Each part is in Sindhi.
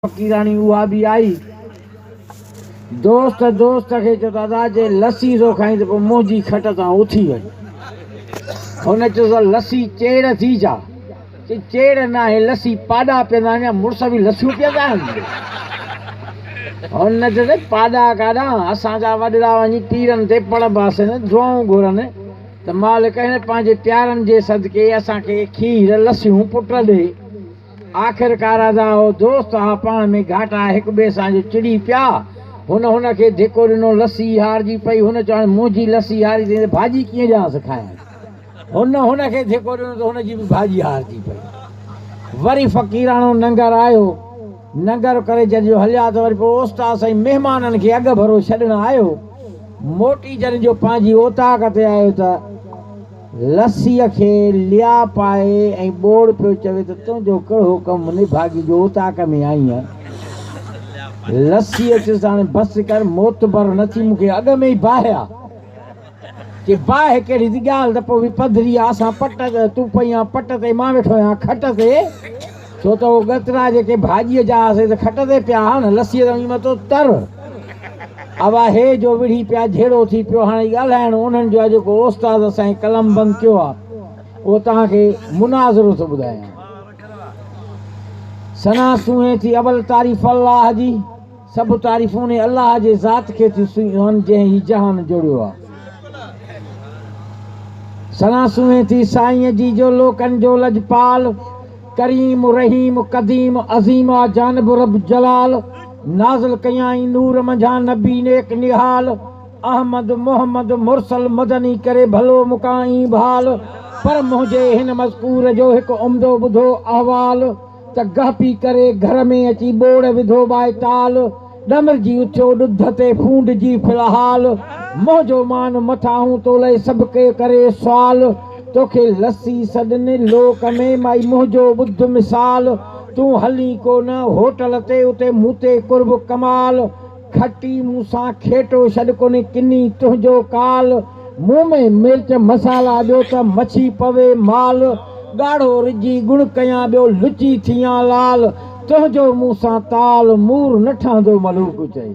فقيراڻي اها به آئي. دوست دوست کي چيو ته ادا جي لسي ٿو کائين ته پوء منهنجي کٽ تان اٿي وڃ. هن چيس ته لسي چيڙهه ٿي ڇا؟ چي چيڙهه ناهي لسي پاڏا پيئندا آهن يا مڙس به لسيون پيئندا آهن. هن چيس ته پاڏا ڪاڏانهن اسان جا وڏڙا وڃي پيرن تي پڙ باسين دعائون گهرن ته مالڪ هن پنهنجي پيارن جي صدقي اسان کي کير لسيون پٽ ڏي. آخر ڪارادا ۽ هو دوست ها پاڻ ۾ گهاٽا هڪ ٻئي سان جو چڙي پيا. هن هن کي ڌڪو ڏنو، لسي هارجي پئي. هن چيو، هاڻي منهنجي لسي هاري اٿئي ته ڀاڄي ڪيئن ڏيانس کائڻ. هن هن کي ڌڪو ڏنو ته هن جي به ڀاڄي هارجي پئي. وري فقيراڻو ننگر آيو. ننگر ڪري جڏهن جو هليا ته وري پوء اوستاد سائين مهمانن کي اڳڀرو ڇڏڻ آيو. موٽي جڏهن جو پنهنجي اوطاق تي آيو ته. لسيء کي ليا پائي ۽ ٻوڙ پيو چوي ته تنهنجو ڪهڙو حڪم نڀاڳي جو اوطاق ۾ آئينء. لسيء چيس ته هاڻي بس ڪر معتبر نه ٿي مون کي اڳ ۾ ئي باهه آ. چي باهه ڪهڙي ٿي ڳالهه ته پوي پڌري آ اسان پٽ تون پئي آن پٽ تي مان ويٺو آهيان کٽ تي. ڇو ته اهو ڳترا جيڪي ڀاڄيء جا آهن سي ته کٽ تي پيا آهن، لسيء تان وڃي متو تر. اوا هي جو وڙهي پيا جهيڙو ٿي پيو، هاڻي ڳالهائڻ انهن جو آهي جيڪو استاد اسانئي قلم بند ڪيو آهي، اهو توهان کي مناظرو ٿو ٻڌايان. ثنا سونهين ٿي اول تعريف الله جي. سڀ تعريفون انهي الله جي ذات کي ٿيون سونهن جنهن هي جهان جوڙيو آ. ثنا سونهين ٿي سائينء جي جو لوڪن جو لڄپال، ڪريم، رحيم، قديم، عظيم آ جانب رب جلال، نازل ڪيائين نور منجهان نبي نيڪ نهال، احمد، محمد، مرسل، مدني ڪري ڀلو مڪان اينڀال، پر منهنجي هن مذڪور جو هڪ عمدو ٻڌو احوال، ته گهپي ڪري گهر ۾ اچي ٻوڙ وڌو ٻائي ٽال، ڏمرجي اٿيو ڏڌ تي ڦونڊجي ڦل حال، منهنجو مان مٿاهون تو لئي سڀ ڪي ڪري سوال، توکي لسي سڏن لوڪ ۾ مائي منهنجو ٻڌ مثال، تون هلين ڪو نه هوٽل تي اتي مون تي قرب ڪمال، کٽي مون سان کيٽو شڏ ڪوني ڪني تنهنجو ڪال مون ۾ مرچ مسالا ٻيو ته مڇي پوي مال ڳاڙهو رجي ڳڻ ڪيان ٻيو لچي ٿيان لال تنهنجو مون سان تال مور نه ٺهندو ملوڪ چئي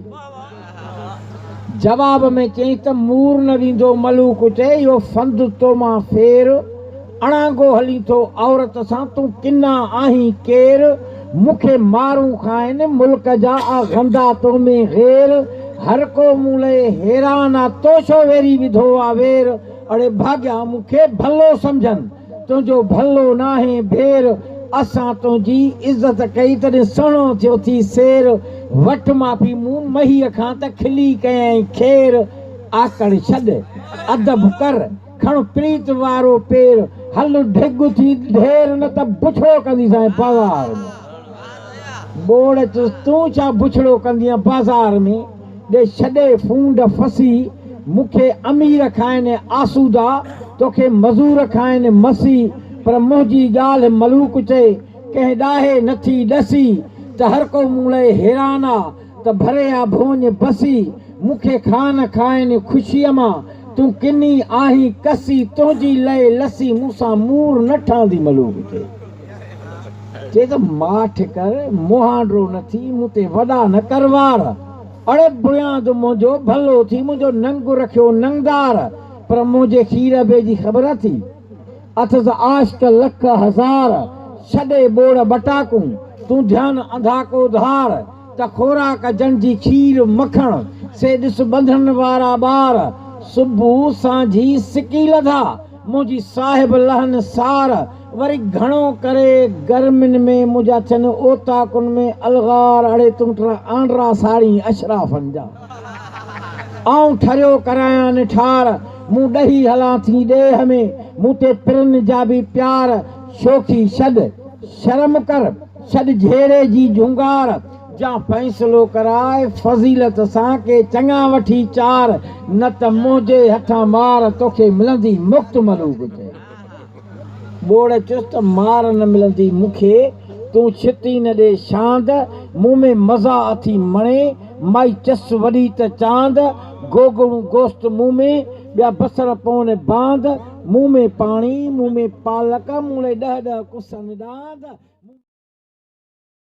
جواب ۾ چيائين ته مور نه ويندو ملوڪ چئي اهو فند تو مان ڦير اڻانگو هلين ٿو عورت سان تون ڪنا آهين ڪير مون کي مارون کائن ملڪ جا آ غندا تو ۾ غير هر ڪو مون لئه حيران آ تو ڇو ويري وڌو آ وير اڙي ڀاڳيا مون کي ڀلو سمجهن تنهنجو ڀلو ناهي ڀير اسان تنهنجي عزت ڪئي تڏهن سهڻو ٿيو ٿي سير وٺ معافي مون مهيء کان ته کلي ڪيائين خير آڪڙ ڇڏ ادب ڪر. کڻ پريت وارو پير، هل ڍڳ ٿي ڍير نه ته بڇڙو ڪنديسانء بازار ۾. ٻوڙ چيس، تون ڇا بڇڙو ڪندينء بازار ۾؟ ڏي ڇڏي ڦونڊ ڦسي، مون کي امير کائين آسودا، توکي مزور کائين مسي، پر منهنجي ڳالهه ملوڪ چئي، ڪنهن ڏاهي نٿي ڏسي، ته هرڪو مون لئي حيران آ. ته ڀري آ ڀونج بسي، مون کي خان کائن خوشيء مان، تون ڪني آهين ڪسي، تنهنجي لئي لسي، مون سان مور نه ٺهندي ملوڪ کي. چي ته ماٺ ڪر مهانڊرو نه ٿي، مون تي وڏا نه ڪر وار، اڙي بنياد منهنجو ڀلو ٿي، منهنجو ننگ رکيو ننگدار، پر منهنجي خير ابي جي خبر اٿئي؟ اٿس عاشق لک هزار، ڇڏي ٻوڙ ٻٽاڪون، تون ڌيان انڌاڪو ڌار، ته خوراڪ جن جي کير مکڻ، سي ڏس ٻنڌڻ وارا ٻار، صبح سانجهي سڪي لڌا، منهنجي صاحب لهن سار، وري گهڻو ڪري گرمين ۾ منهنجا ٿين اوطاقن ۾ الغار، اڙي تون ٽرا آنڊرا ساڙين اشرافن جا. آئون ٺريو ڪرايان نٺار، مون ڏهي هلان ٿي ڏيهه ۾، مون تي پرن جا به پيار، شوخي ڇڏ، شرم ڪر، ڇڏ جهيڙي جي جهونگار، جا فيصلو ڪراء فضيلت سان، ڪي چڱا وٺي چار، نه ته منهنجي هٿان مار، توکي ملندي مڪت ملوڪ چئي. ٻوڙ چست مار نه ملندي مون کي، تون ڇتي نه ڏي شاند، مون ۾ مزا اٿي مڻي، مائي چس وڏي ته چاند، گوگڙون گوشت مون ۾، ٻيا بصر پون باند، مون ۾ پاڻي، مون ۾ پالڪ، مون لاء ڏهه ڏهه ڪسن ڏاند.